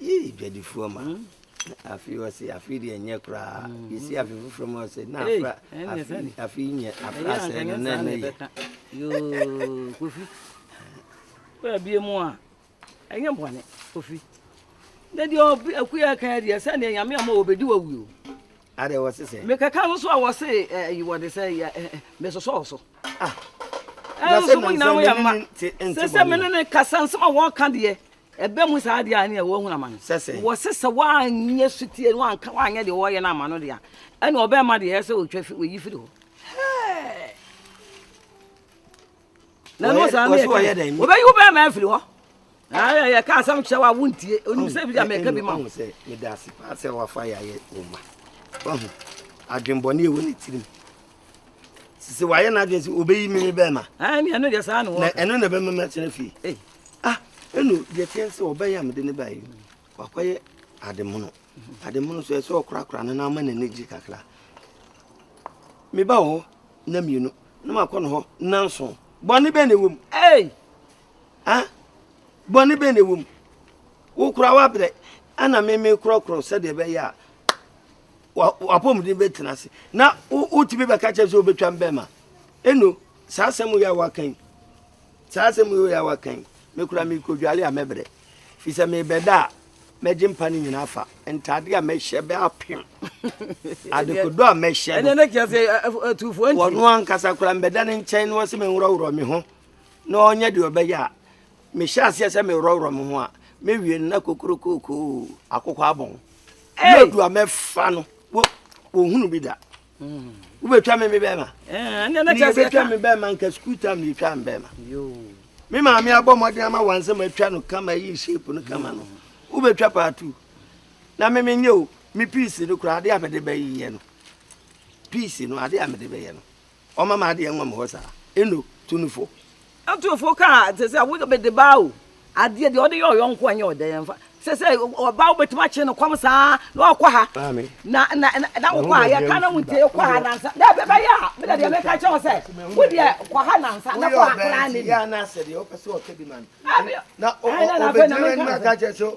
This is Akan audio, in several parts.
Yii dwadifoɔ ma na afei ɔse afei deɛ ɛnyɛ koraa yɛsi afe foforɔ ma ɔse na afra afei nyɛ afra sɛ no na ɛno yɛ kofi baabi mu a ɛnyɛ bɔne kofi na deɛ akuya kan deɛ sɛ neɛ nyame ama wɔbɛdi wawuo adɛ wɔ se sɛ mekɛka no so a wɔ se yi wɔde sɛ mesosɔɔ so ɛnso mo nyina mo yɛ mma sɛ sɛ mene ne kasa nsɛm a wɔka deɛ Ɛba mu saa deɛ a ne ɛwɔ hunu amane. Wɔse sɛ woanyɛ sotie no anka woanyɛ deɛ wɔyɛ no ama no deɛ a ɛne ɔbɛrima deɛ ɛyɛ sɛ wɔtwa fi wɔyi firi hɔ. Na ɛno saa ne ɛka wɔbɛyi wo bɛrima afiri hɔ. Yɛ ka asɛm kyerɛ wo a wontie onim sɛ bi deɛ mɛka bi ma wo. Sɛ meda ase paa sɛ wafa yɛ ayɛ wo ma. Adwenbɔne ɛwɔ ne tirim. sisi wayɛ n'adwene sɛ obeyi mi ne bɛrima. ɛn ne ɛno deɛ saa na wɔka na ɛno na ɛbɛma mi atena fie eh. ah ɛnu deɛ teɛ sɛ ɔbɛyɛ a mede ne baeɛ no wakɔyɛ ademono ademono so ɛsɛ ɔkorakora no na ama n'ani gye kakra meba wɔ hɔ na mmienu na makɔ no hɔ nanso bɔne bɛn na ɛwɔ mu ei ah bɔne bɛn na ɛwɔ mu wokora wabrɛ ana meme korɔkorɔ sɛdeɛ ɛbɛyɛ a w'apɔmuden bɛtena ase na wotumi bɛka kyerɛ sɛ wobɛtwa mbɛma ɛno saa asɛm yɛ a waka yi saa asɛm yɛ a waka yi mekura mekɔdwale a mɛbrɛ firi sɛ mebɛda a mɛgye mpa no nyinaa fa ntade a mɛhyɛ bɛ apem adekodo a mɛhyɛ no wɔno ankasa kora mbɛda ne nkyɛn na wɔ sɛ menworɔworɔ me ho na ɔnyɛ deɛ ɔbɛyɛ a mehyɛ aseɛ sɛ meworɔworɔ me ho a mewie no na kokorokoko akokɔ abɔn lɔdu a mɛfa no wɔhunu bi da hmm. wobɛtwa me me bɛma eh, ne wobɛtwa me bɛma nka sukuu tam ne yɛtwa me bɛma me maame abɔ mmɔden ama wansɛm atwa no kama yi shape no kama no wobɛtwa paatu na me menyɛ o me piisi no koraa adeɛ a mede bɛyɛ no piisi no adeɛ a mede bɛyɛ no Ɔma ma adeɛ nwam hɔ saa. Eno tu no fo. Ɛtu fo kaa te sɛ wo bede ba o, adeɛ deɛ ɔde yɛ ɔyɔnko a ɛnyɛ ɔdɛn ɛmfa sɛ sɛ ɔba wobɛtumi akye no kɔm saa na ɔkɔ ha na na na wokɔ a yɛka na wontie kɔ ha nansa dɛ bɛbɛyɛ a mena deɛ meka kyɛ wo sɛ wo deɛ kɔ ha nansa na kɔ ha koraa ne bi na ɔbɛgyina w'anim aka kyerɛ sɛ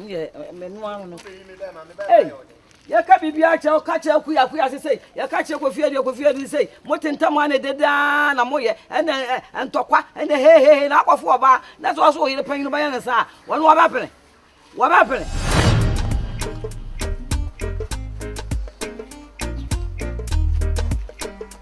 Yɛ menu ano no. Ei, yɛka biribiara kyerɛ woka kyerɛ kuya kuya se sei yɛka kyerɛ kofie deɛ kofie de sei mote ntam a na ɛde daa na moyɛ ɛnɛ ntɔkwa ɛnɛ hehehe na akɔfo ɔbaa na sɛ ɔso ɔyere panyin bɛyɛ ne saa wɔn wɔbɛpene wɔbɛpene.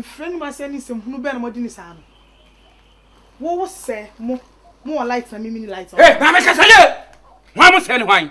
mfrɛ no masɛ ne nsɛm hunu bɛn na mɔde ne saa no wowo sɛ mo mo wɔ light na mimi ne light ɔ. ee maame kasa yie wɔn mo sɛ ne hwan.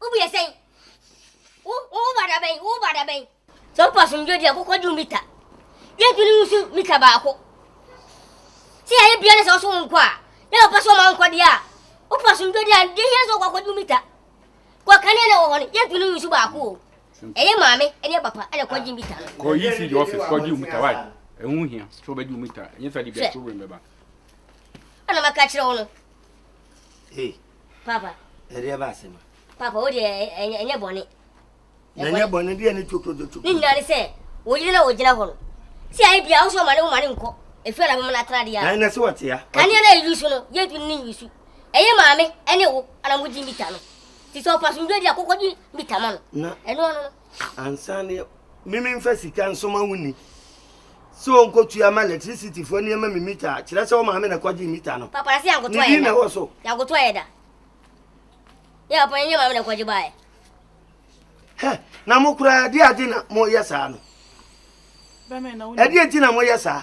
Wo bue sɛn? Wo wo ba da bɛn? Wo ba da bɛn? Sɛ wopɛ asomdwoe di a, kɔkɔgye wo mita. Yɛntu ne nsu mita baako. Sɛ yɛayɛ bia ne sɛ ɔso wo nkɔ a, na ɔpɛ sɛ ɔma wo nkɔ deɛ a, wopɛ asomdwoe di a, deɛ hia sɛ wokɔkɔgye wo mita. Kɔ kanea na ɛwɔ hɔ no, yɛntu ne nsu baako o. Ɛyɛ maame ne papa na ɛkɔgye mita no. Kɔ ECD office kɔgye wo mita, why? Ɛho hia sɛ wobɛgye wo mita, ɛnyɛ sɛ wode bɛto wɛn bɛba. Ɛna maka kyerɛ wo no. Hey. Papa. Ɛdeɛ ba asɛm. Papa o deɛ ɛnyɛ bɔne. Ɛnyɛ bɔne deɛ ne tokotokotoko. Ne nyinaa ne sɛ wɔyere na wɔgyina hɔ no. Sɛ ayɛ bia wosɛ ɔma ne woma ne nkɔ. Ɛfiri na bɛma no atena deɛ. Ɛn na sɛ wɔte ya. Kanea na ɛyi so no yɛntu ne nyi so. Ɛyɛ maame ɛne wo ana mogye mita no. Ti sɛ ɔpasomdwa di akokɔgye mita ma no. Ɛno ano no. Ansa ne Mimi mfa sika nsoma wo ni sɛ ɔnkɔtua ma lɛtrisitifo nneɛma me mita a, kyerɛ sɛ wo maame na ɛkɔgyee mita no. Papa se yɛankoto ayɛ da. Ne din na ɛwɔ so. Yɛankoto ayɛ da. Yɛ papa yɛnyɛ maame na ɛkɔgye baeɛ. Hɛ, na mo koraa ɛde ade na moyɛ saa no? Ɛdeɛ nti na moyɛ saa?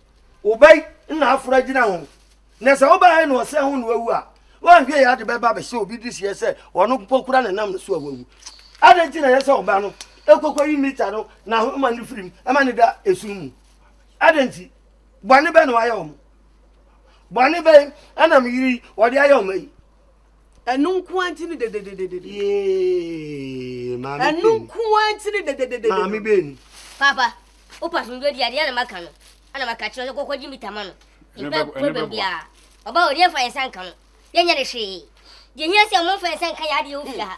Wobɛy na aforo agyina ho. Na sɛ wobae na ɔsɛ ho na wawu a, woanhwɛ yɛ ade bɛba bɛhyɛ obi de seɛ sɛ ɔno mpo kora ne nam no so a wawu. Adɛn nti na ɛyɛ sɛ ɔba no kɔkɔyi mita no n'ahoma no firim ma no da esum mu? Adɛn nti? Bɔne bɛn na wayɛ wɔn? Bɔne bɛn na me yere yi ɔde ayɛ wɔn yi? ɛno nko ara nti ne dedededede. yee maame ɛno benu nko ara nti ne dedededede. maame benu Papa, wo pa somdwe di adeɛ na maka no. Ɛna maka kyerɛ no sɛ kɔkɔgye mita ma no. Ɛno Mpa bɛboa, ɛno problem bɛboa. biara. Ɔba hɔ, deɛ mfa yɛn nsa nka no. Yɛnyɛ no hwee. Deɛ ɛhia sɛ momfa yɛn nsa nka yɛn adeɛ wɔ fie ha.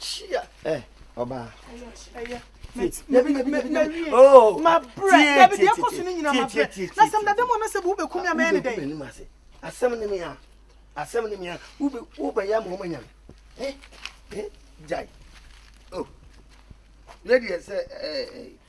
Chia. Ẹ eh, ọba. Oh, ma brẹ dabi deɛ kɔ so no nyina ma brẹ na sɛm dada mu anasɛ wo bɛkumi a mɛyɛ ne dɛn asɛm ne mea asɛm ne mea wobɛyɛ ama ɔma nyame gyae lady sɛ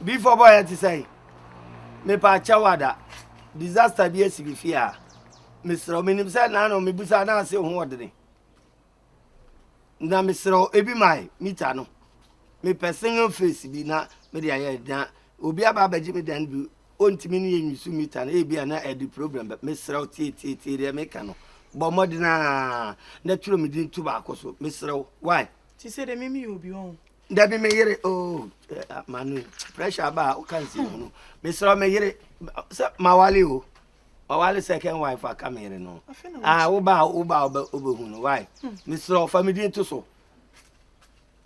bi fɔ bɔ yɛ te sɛ mepa akyɛw ada disaster bi asi me fie a mesrɛ menim sɛ naa na mebusa na ase ho ɔdene na mesrɛ ebi mae mita no mepɛ single face bi na mede ayɛ na obi aba abɛgye me dan bi ɔntumi ne yɛ nwisu mita no ebi a na ɛde problem mesrɛ tietietie deɛ meka no bɔ mmɔden a na twerɛ me din to baako so mesrɛ why te sɛ dɛ meme yɛ obi ɔn dabi me yere o oh, eh, ah, manu pressure aba a woka nsi mu no mesrɛ me yere sɛ mawale o mawale second wife aka me yere no ah, woba a woba a wobɛhu no why hmm. mesrɛ fa me din to so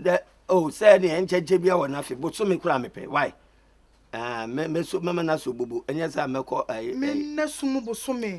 dɛ o oh, sɛ neɛ nkyɛnkyɛ bia wɔ no afe bosome koraa mepɛ why ah, mɛma no asɔ bobo ɛnyɛ sɛ mɛkɔ eh, eh. mɛna sumu bosome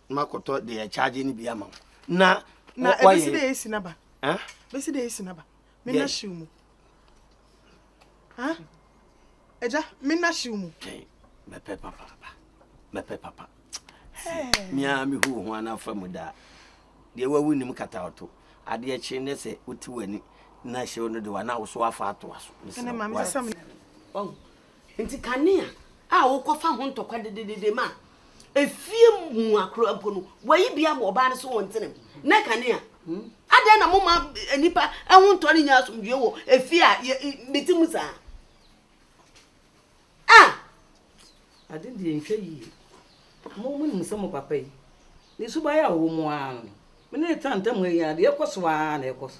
ma kɔtɔ de yɛ charge no bi ama wo na na ebesi de esi na ba eh besi de esi na ba me na shiw mu ah eja me na shiw mu okay me pe papa ba me pe papa me a me hu ho ana fa mu da de wa wu nim kata oto ade e kye ne se oti wani na shiw no de wa na wo so afa ato aso ne se wa Enti kanea a wokɔfa ho ntɔkwa dededede ma efie mu akora mpo no, wɔayi bi abɔ ɔbaa no so wɔ ntenam. Nɛ kanea. Hmm? Adɛn na moma nnipa ho ntɔ no nya asomdwoe wɔ efie a mete mu saa? A! Ade deɛ nhwɛ yie. Mo mo nim sɛ mo papa yi, ne suban a ɔwɔ mu ara no, me ne ne tena ntam ha yi ara deɛ ɛkɔ so ara na ɛkɔ so.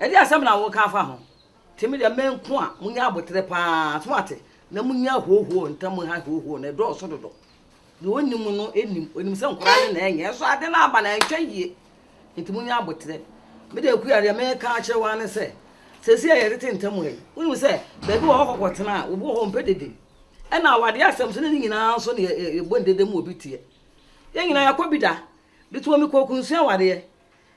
Ɛdeɛ asɛm na woka afa ho? Te me deɛ me nko a monya aboterɛ paa so wate na monya hoohoo ntam ha hoohoo no ɛdɔɔso dodo deɛ ɔnim no nim ɔnim sɛ nkora ne na ɛnyɛ nso ade no aba na ɛntwa yie nti monya aboterɛ me deɛ kuya deɛ meka akyerɛ wa ne sɛ sɛsi a yɛtete ntam ha yi wonim sɛ baabi wɔ hɔ kɔkɔ tena a obi wɔ hɔ mpɛ dede ɛna awadeɛ asɛm so ne ne nyinaa nso ne yɛbɔ ndede mu obi teɛ yɛn nyinaa yɛkɔ bi da de tuma mi kɔ kunsua awadeɛ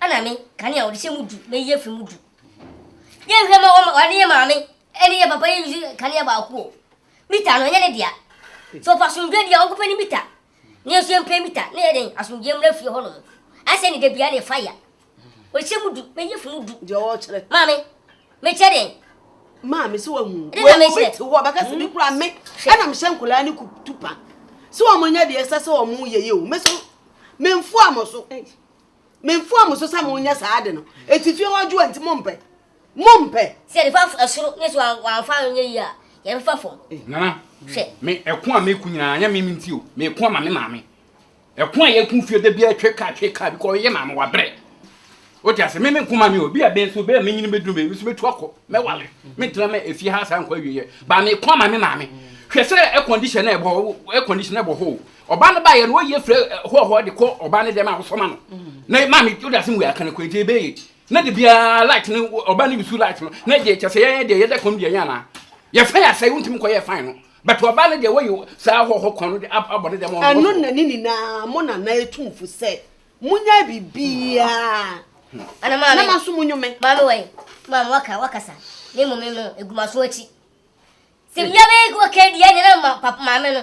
Ɛna me, kane a wɔde hyɛ mu du na eyi afi mu du. Yɛn hwɛ ma wɔn wɔne yɛn maame ɛne yɛn papa yɛ yusu kanea baako o. Mita no ɛnyɛ ne dea. So ɔpɛ asomdwe deɛ ɔnkɔpɛ ne mita. Ne yɛn nso yɛn pɛ mita ne yɛ den asomdwe mmra fie hɔ nom. Asɛ ne debia ne fire. Wɔhyɛ mu du na eyi afi mu du. Deɛ ɔkyerɛ. Maame, mekyɛ den. Maame sɛ wɔn mu. Ɛde na mekyerɛ. Wɔn ti hɔ bɛka sɛ mi kura me. Ɛna mehyɛ nkɔlaa ne kutupa. Sɛ wɔn nyɛ deɛ ɛsɛ sɛ wɔn yɛ yɛ o. Me so, memfu amɔ so. Memfoa mo so sɛ monyɛ saa ade no, enti fie hɔ adwoa nti mompɛ. Mompɛ! Sɛ nifa fa soro ne so a wamfa anyɛ yie a, yɛbɛfa fam. Eh, Nana, Hwɛ. me ɛko a meko nyinaa anyɛ me me nti o, meko ama me maame. Ɛko a yɛko fie da biara twe kaa twe kaa bi kɔ yɛ maame wabrɛ. Wote ase, me me nko ma me o, bi a bɛn so bɛn a menyini bɛduru me, me so mɛtu akɔ, mɛwale, mentena mɛ efie ha saa nkɔ awieɛ, ba meko ama me maame. Hwɛ sɛ air condition na ɛbɔ, air condition na ɛbɔ hɔ o, Ɔbaa no baeɛ no, wɔyi afiri hɔɔhɔɔ de kɔ ɔbaa no dɛm a wɔsɔ ma no. Na maame wode ase mu yɛ akana kwan nti ɛbɛyɛ. Na de biara light no ɔbaa no bisu light no. Na ɛdeɛ kyɛ sɛ yɛyɛ deɛ yɛda kɔm deɛ nyɛ anaa. Yɛfa yɛ asɛe wontumi nkɔyɛ fan no. But ɔbaa no deɛ wɔyi saa hɔɔhɔ kwan no de abɔ ne dɛm ɔno wɔsɔ. Ɛno na ne nyinaa mo na na etu mo fo sɛ mo nyɛ biribiara. Na maame nso mo nyome. Maame wɔ he? Maame waka wakasa. Me mmom me mmɔ egumaso akyi. Sɛ mmea bɛyɛ kɔ kɛn deɛ ɛne na maame no.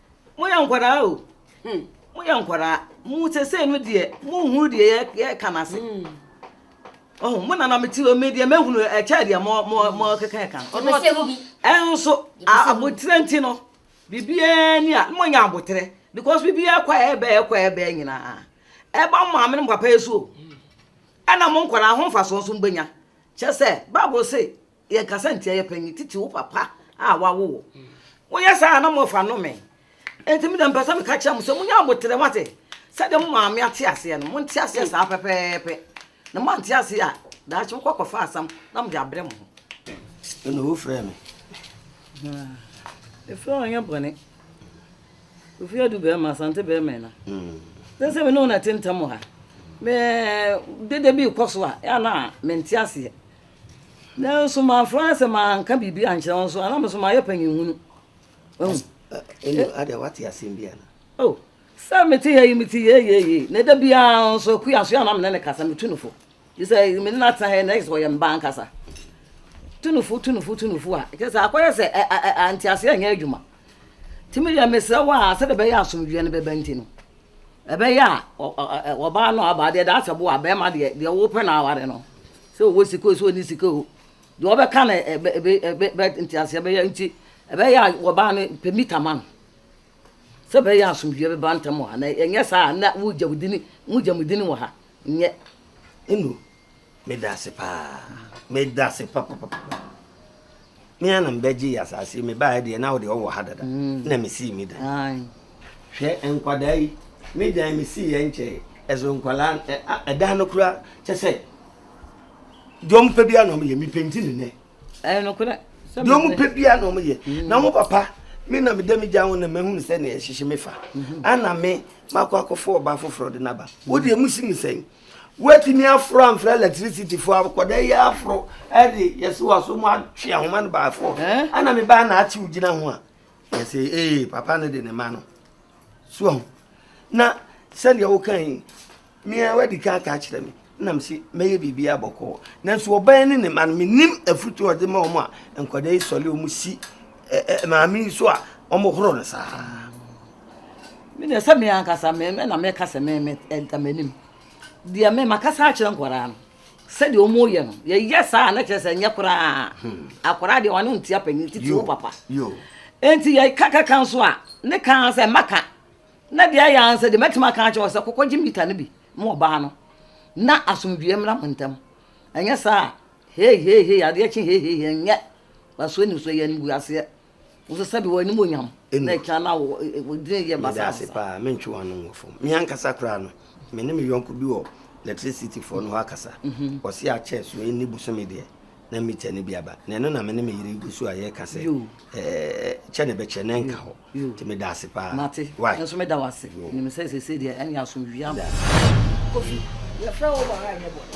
Moyɛ nkwadaa o, hmm. moyɛ nkwadaa. Mo sesei no deɛ, monhunu deɛ yɛka no ase. Oh, mo nana mete hɔ me deɛ mɛhunu ɛkyɛ deɛ mɔkeka ɛka no. Ɛnso, aboterɛ nti no, biribiara ni a, monyɛ aboterɛ. Because biribiara kɔ a ɛbɛɛ kɔ a ɛbɛɛ nyinaa. Ɛba mo maame no papa yɛ so o. Ɛna mo nkwadaa ho mfasoɔ nso mbɛnya. Kyɛ sɛ, Bible se, Yɛnkasa ntia yɛ panyin, titi wo papa a wawo wo. Woyɛ saa a na mofa nnome. Enti me deɛ mpɛ sɛ meka kyerɛ mo sɛ monya aboterɛ mo ate. Sɛdeɛ mo maame ate aseɛ no, monte aseɛ saa pɛpɛɛpɛ. Na moante aseɛ a, daakye mokɔ akɔfa asam na mode abrɛ mo ho. Ɛna wofrɛɛ me. Ɛfrɛ wo anyɛ bɔne. Ofie adu bɛrima, asante bɛrima ɛna. Sɛ sɛ me ne wo na ɛte ntam ha. Me dede bi rekɔ so a, ɛa na mente aseɛ. Nanso mamfrɛ ase manka biribi ankyerɛ wo nso a, na me nso mayɛ panyinhunu. Wahu? Ɛnno eh, adeɛ wate asɛm bi ana? Oh, sɛ mete ha yi mete yeyeeye na da biara nso akua so a na me ne ne kasa metu no fo. Gye sɛ me ne no atena ha yi na ɛyɛ sɛ ɔyɛ me ba ankasa. Tu no fo, tu no fo, tu no fo a, kyerɛ sɛ akɔyɛ sɛ anteaseɛ nyɛ adwuma. Nti medeɛ mesrɛ wo a sɛdeɛ ɛbɛyɛ asomdwoeɛ no bɛba nti no, ɛbɛyɛ a ɔbaa no aba deɛ daasɛ bo a bɛrima deɛ deɛ wopɛ na aware no Sɛ ɔwɔ sika o, sɛ ɔnni sika o, deɛ ɔbɛka na ɛbɛ nteaseɛ bɛyɛ nti ɛbɛyɛ a wɔbaa no pɛ mita ma no sɛ ɛbɛyɛ a asomdwoeɛ bɛba ntam wɔ ha na ɛnyɛ saa a na wogya wo dini mogya mo dini wɔ ha nyɛ ɛnu meda ase paa meda ase papapapa Me ara na mebɛgyee asase yi, mebaeɛ deɛ na wodeɛ wowɔ ha dada mm. na mesii me dan. Hwɛ nkwadaa yi, me dan mesii yɛ nkyɛe, ɛso nkwadaa ɛdan no kora kyɛ sɛ deɛ ɔmpɛ biara na ɔmyɛ mepenti ne nɛ. Ɛyɛ nokorɛ. Deɛ ɔmpɛ biara na ɔmyɛ mm. na ho papa me na meda megya ho na mahunu sɛ ne ɛhyehye me fa mm-hmm. ana me makɔ akɔfo ɔba foforɔ de no aba wodeɛ musi me sɛn Woatumi aforo amfrɛ electricityfoɔ akɔda yi aforo de yɛse waso mu atwe ahoma no baafoɔ ɛna me baa na atew gyina ho a yɛse ee papa no de ne ma no soɔ ho na sɛdeɛ woka yi mea wadi ka aka akyerɛ me nam se mɛyɛ biribi abɔkɔɔ nanso ɔbaa ne ne ma no menim afutu ɔde ma ɔmo a nkɔda yi sɔle ɔmo si maame yi so a ɔmo horo no saa me deɛ sɛ me ankasa me na mɛka sɛ me me ɛda m'anim deɛ me makasa akyerɛ nkwadaa no sɛdeɛ wɔn reyɛ no yɛyɛ saa na kyerɛ sɛ nyɛ koraa hmm. akwadaa deɛ wɔn ntia panyin titi wo papa nti yɛ kakaka nso a ne kan sɛ maka na deɛ ayɛ ansa deɛ mɛtumi aka akyerɛ wɔ sɛ kɔkɔ gye mita no bi mo ɔbaa no na asomdwie mmra mo ntam ɛnyɛ saa hei hei hei adeɛ kye hei hei hei nyɛ wasoɔ ni so yɛ no bu aseɛ Wosɛ sɛbi wɔ anim onyam na ɛkyina na wɔ din yɛ basa. Meda ase paa mentwe wɔn ano wɔ fam. Me ankasa koraa no me ne me yɔnko bi wɔ electricity foɔ no hɔ akasa. Mhm. Ɔsi akyɛ so ɛni bosome deɛ na mita no bi aba na ɛno na me ne me yere gu so a yɛka sɛ kyɛ ne bɛkyɛ na ɛnka hɔ nti meda ase paa mate nso meda wo ase nim sɛ sɛsɛ deɛ ɛne asomdwia kofi yɛfrɛ wo wɔ ha ɛnyɛ bɔne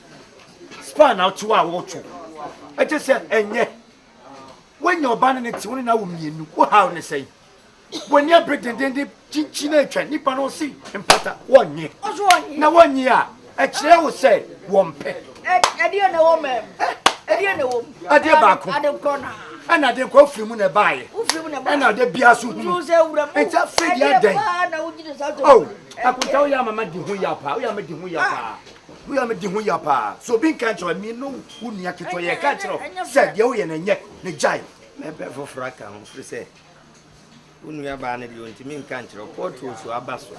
Sperm na ɔkyew a wotwo. Ɛkyɛ sɛ ɛnyɛ. Woanya ɔba ne ne te, wo ne no awo mmienu. Wo haw ne sɛn? W'ani abere dendenden, kyinkyin a atwa nipa no se mpata. Wonnye. Na wonnye a, ɛkyerɛ wo sɛ wɔmpɛ. Ɛdeɛ na ɛwɔ mɛm. Ɛdeɛ na ɛwɔ mu. Adeɛ baako. Adenkɔ na. Ɛna adenkɔ ofiri mu na ɛbaeɛ. Ofiri mu na ɛbaeɛ. Ɛna ɔde bia so hunu. Nti afei deɛ adɛn. Ɛdeɛ paa na wogyina saa tɔn. Oh, akunta woyɛ amama di ho yɛ paa. Woyɛ amama di ho yɛ paa. Woyɛ a mede ho hia paa. So obi nka nkyerɛ wo, me ne wo nua ketewa yɛka nkyerɛ wo sɛ deɛ woyɛ no ɛnyɛ, na gyae. Mɛpɛ foforɔ aka ho firi sɛ wo nuabaa no deɛ ɔntumi nka nkyerɛ wo, pɔɔto so aba so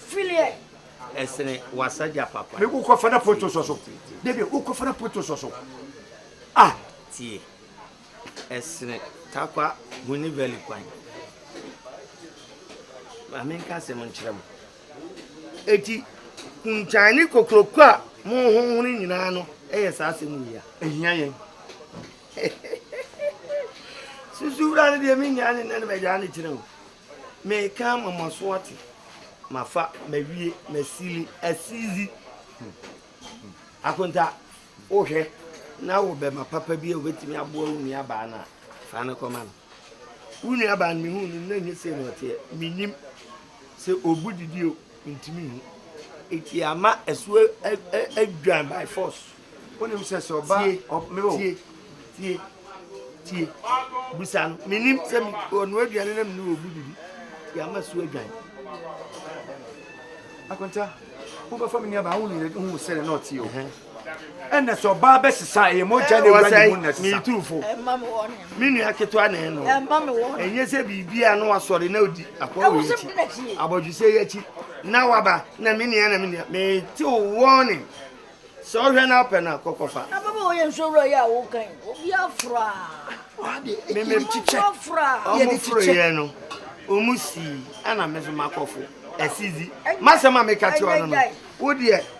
filiɛ ɛsene wasagya papa. Me wokɔfa no pɔɔto so so, David wokɔfa no pɔɔto so so ah. Tie ɛsene takwa huni vɛli kwan, maame nka asɛm nkyerɛ mo. Enti, kontwan ne kokroko a mohohoro nyinaa no yɛ saa asɛm wei a. Ɛhia yɛn. Susu wura no deɛ menyaa ne nnɛ no magyaa ne kyerɛ o. Meka ama mo aso ate. Mafa, mawie, masili, asizi. Akonta, wohwɛ na wo bɛma papa bi a wobɛtumi aboa wo nuabaa no a, fa no kɔma no. Wo nuabaa no mehu no na nyɛ sei na ɔteɛ. Menim. Sɛ obu didi o, ntumi nhu. Nti ama ɛso adwan by force. Wonim sɛ sɛ ɔba ɔba tie tie tie busa no menim sɛ ɔno aduane na mene obu didi nti ama so adwan. Akonta wobɛfa me nuabaa wo nyina hu sɛ ne na ɔte o ɛna sɛ ɔbaa bɛ sesa ɛyɛ mogya na ɛwura ne mu na sesa. Miitufo. Me nua ketewa na ɛno. Ɛnyɛ sɛ biribi a na wasɔre na odi akɔ wɔ akyi. Abɔdwesɛ yi akyi na waba na me nua na me nua. Me te warning. Sɛ ɔhwɛ na apɛ na kɔkɔ fa. Na baba ɔyɛ nso wura yɛ a wokan. Obi afra. Me me kyikyɛ. Ɔmo fro yɛ no. Ɔmo si ana me so makɔfo. Ɛsizi. Masɛm a meka kyerɛ ɔno no. Wo deɛ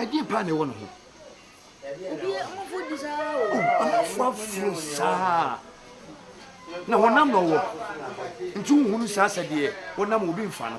ɛdeɛ paa na ɛwɔ ne ho ɔmanfoɔ aforo saa na honam na ɔwɔ nti wohunu saa sɛdeɛ wonam obi mfa no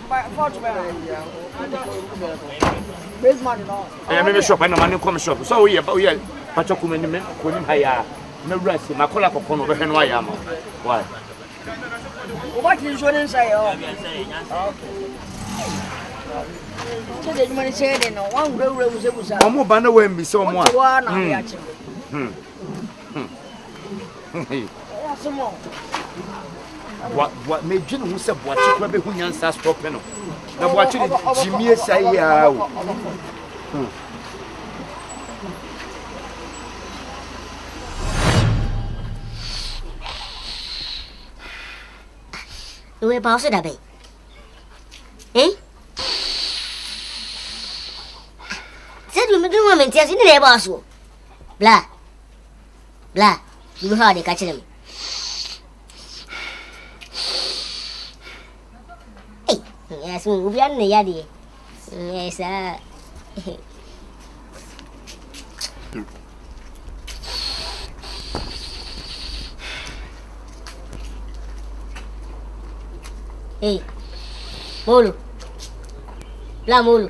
ɛyɛ me me shop ɛna ma ne nkɔ me shop sɛ woyɛ woyɛ patwa kuma ni me kɔ nim ha yɛ a na wura si ma kɔla kɔkɔ no ɔbɛhwɛ no ayɛ ama wae wobɛte nsuo ne nsɛ yɛ hɔ ɔmo ba na wɔambi sɛ ɔmo a Medwe ne ho sɛ Boakye kora bɛhu nyansa astɔpe no na Boakye de gyimie sa yi ara o. Ewe pa ɔso dabe. Eh? Sɛ dum dum wa mentiasi ne na ɛbɔ asoɔ. Bla bla biribi hɔ a ɔde ka kyerɛ me. Ei, ɛyɛ so obiara ne yadeɛ. Ɛyɛ saa. Ei, molo. Bla molo.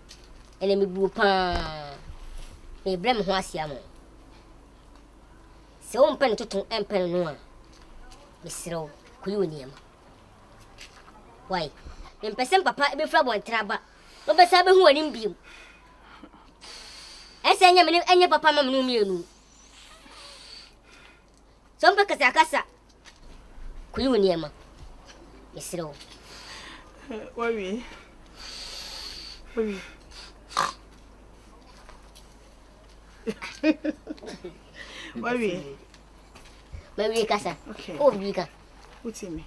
Ɛnna mebuu pa ara. Merebrɛ me ho ase ama wo. Sɛ wompɛ no toto mpɛ no no a, mesrɛ wo, kɔyi wo nneɛma. Wai, mempɛ sɛ me papa bɛfiri abɔnten aba na ɔbɛsan abɛhu w'anim bio. Ɛsɛ ɛnyɛ me ne ɛnyɛ papa ma me ne wo mmienu. Sɛ ɔmpɛ kasa a, kasa. Kɔyi wo nneɛma. Mesrɛ wo. Wawie. Wawie. Wawie. Mawie kasa. Okay. Oh, wie ka. Wotie me.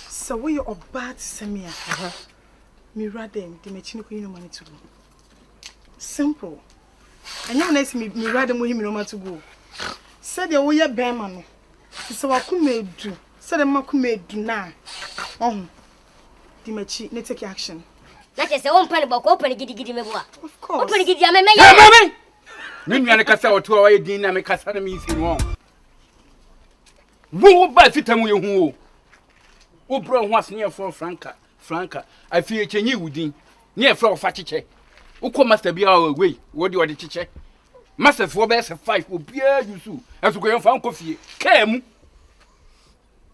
Sɛ woyɛ ɔbaa te sɛ me a, mewura dɛn de m'akyi no kɔyi no ma no to mu. Simple. Ɛnyɛ wo na asi me wura de mo he miroma to gu o. Sɛdeɛ woyɛ bɛɛma no, te sɛ w'akoma edu, sɛdeɛ m'akoma edu no a, ɔho. Di m'akyi ne take action. Na kyerɛ sɛ wompɛ no bɔkɔ, wopɛ no gidigidi meboa. Of course. Wopɛ no gidi a, me mɛyɛ. Hɛ ma me! Me nua no kasa ɔto a wayɛ din na me kasa na me si no ɔn. Wo wo ba fita mu yɛ hu o. Wo brɛ ho asene yɛ fɔɔ franka. Franca, afei yɛkyɛnyi wo din ne yɛfrɛ wo fa kyekyɛ. Wokɔ master bi a wei wɔde ɔde kyekyɛ. Masterfoɔ bɛyɛ sɛ five obiara use wo. Ɛso kɔ yɛmfa nkɔ fie kaa mu.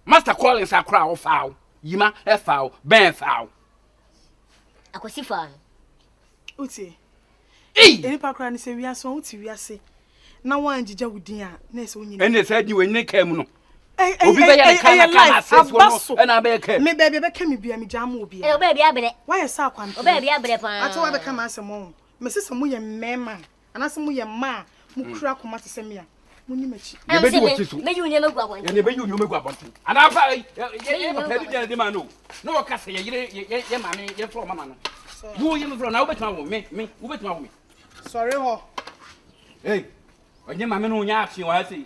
Master Collins akora a ɔfaa wo. Yima ɛfaa wo. Bɛn ɛfaa wo. Akwasi faa no. Wotie? Ei! Nnipa koraa no sɛ wiase wɔn wote wiase na wɔn angyigya wo din a na ɛsɛ wonyi. Ɛnna saa di wɔn ne kaa mu no. Obi bɛyɛ ne kaa na kaa na asɛfoɔ no ɛna abɛyɛ kaa mu. Me baabi ɛbɛka mi bia mi gya ama obi. Ɛ ɔbaa bi abrɛ. Wayɛ sɛ akwantere. Ɔbaa bi abrɛ paa. Ate wabɛka ma asɛm wɔn. Mese sɛ mo yɛ mmɛɛma a. Anaasɛ moyɛ mma a mukura koma te sɛ me a, munni m'akyi. Nea ebedi w'akyi so. Meyi wo nneɛma agu abɔnten. Yɛn na yɛbɛyi wo nneɛma agu abɔnten. Anaa fa yɛn papa bi gyina de ma no. Na wɔka sɛ yɛn yere yɛn maame yɛmfa wɔn mama no. Wo yɛ mfrɛ na wobɛtumi awo me me wobɛtumi awo me. Sɔre hɔ. Ei ɔnyɛ maame no nya atwe wɔ ha sei.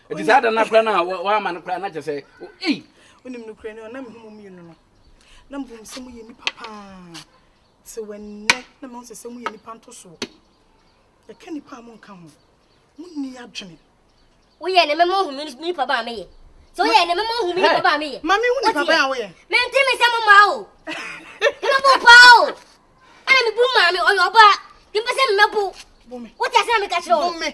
Nti saa da no koraa no a wɔama no koraa na kyɛ sɛ ei. Wonim nokorɛ no, na mehu mo mmienu no. Na mbom sɛ moyɛ nnipa paa te wɔ nnɛ na mahu sɛ sɛ moyɛ nnipa ntosoɔ. Yɛka nnipa a monka ho, monni adwene. Woyɛ ne mema ohumi nnipa baa meyɛ. Sɛ woyɛ ne mema ohumi nnipa baa meyɛ. Ma mehu nnipa baa woyɛ. Mente me sɛ mo maa o. Mebɛbo paa o. Ɛna mebu maa me ɔyɛ ɔbaa. Dempɛ sɛ mebɛbo. Wote ase na meka kyerɛ wo.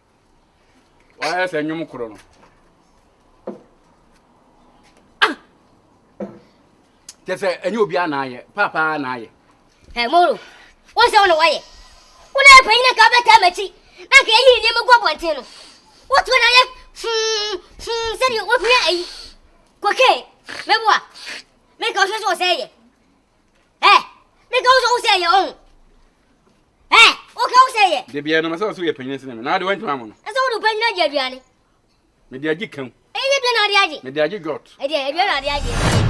wayɛ sɛ nnwom koro no ah! kyɛ sɛ ɛnyɛ obiara na ayɛ paapaa na ayɛ moro wo sɛ wo na wayɛ wo na yɛ panyin na nka wobɛtaa m'akyi na nka yɛyi nneɛma gu abɔnten no wotoɔ na yɛ fum fum sɛdeɛ wapia ayi kokain mɛboa meka wohwɛ sɛ wɔ sɛ yɛ ɛ meka wo sɛ wo sɛ yɛ ɔho ɛ woka wo sɛ yɛ da biara no masɛ wo so yɛ panyini sene me na ade wantumi ama no ɛsɛ wode wopanyini agye aduane mede agye kam ɛyɛ ne aduane ade agye mede agye dwot ɛdeɛ aduane ade agye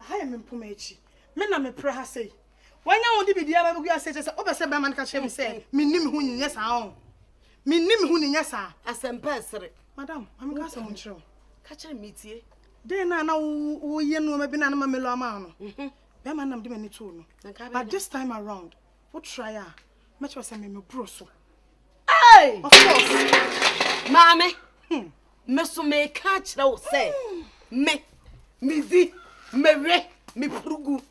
Aha yɛ me mpoma akyi. Me na mepra ha sei. Wanya wo de biribiara ma bɛgu ase kyerɛ sɛ wopɛ sɛ barima no ka kyerɛ me sɛ menni me ho ni, nyɛ saa oo. Menni me ho ni, nyɛ saa. Asɛmpa ɛsere. Madam, ma menka asɛm nkyerɛ wo. Ka kyerɛ me, metie. Dɛn na na woyɛ nnoɔma bi na na ma Melo ama wo no? Barima no na mede m'ani too no. But this time around, wo try a, mɛkyerɛ wo sɛ me meboro so. Hey! Of course. Maame! Me nso meka akyerɛ wo sɛ me medzi mewe mepurugu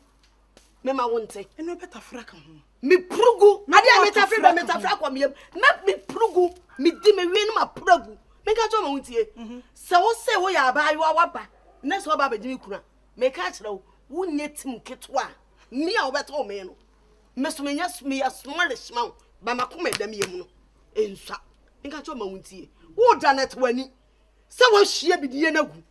mema wo nte ɛne wobɛtafra ka ho mepurugu adeɛ a metafre bɛ metafre akɔ meyam mɛ mepurugu medi mewe no mapuragu meka kyerɛ ma wo ntie mhm. sɛ wo sɛ woyɛ abaayewa waba na sɛ waba abɛgye me kuna meka akyerɛ wo wonyɛ tim ketewa me a wobɛtɔ me no Me so menya meyɛ smallish ma wo ba makoma ɛda me yam no nsua nka kyɛ ɔma wo ntie wo da na te w'ani sɛ wɔahyia bidie no agu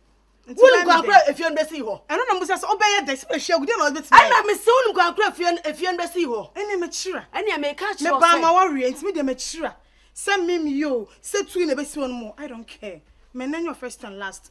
wonim kwankora efie no bɛsii hɔ ɛno na musa sɛ ɔbɛyɛ dɛ sɛ bɛhyia agu deɛ na ɔbɛtumi ayɛ ɛna mese wonim kwankora efie no efie no bɛsii hɔ ɛne mekyira ɛne meka kyerɛ sɛ mebaa ma wɔreɛ ntimi deɛ mekyira sɛ mem yo sɛ tui na ɛbɛsi hɔ no mo I don't care mɛnɛ nyɛ first and last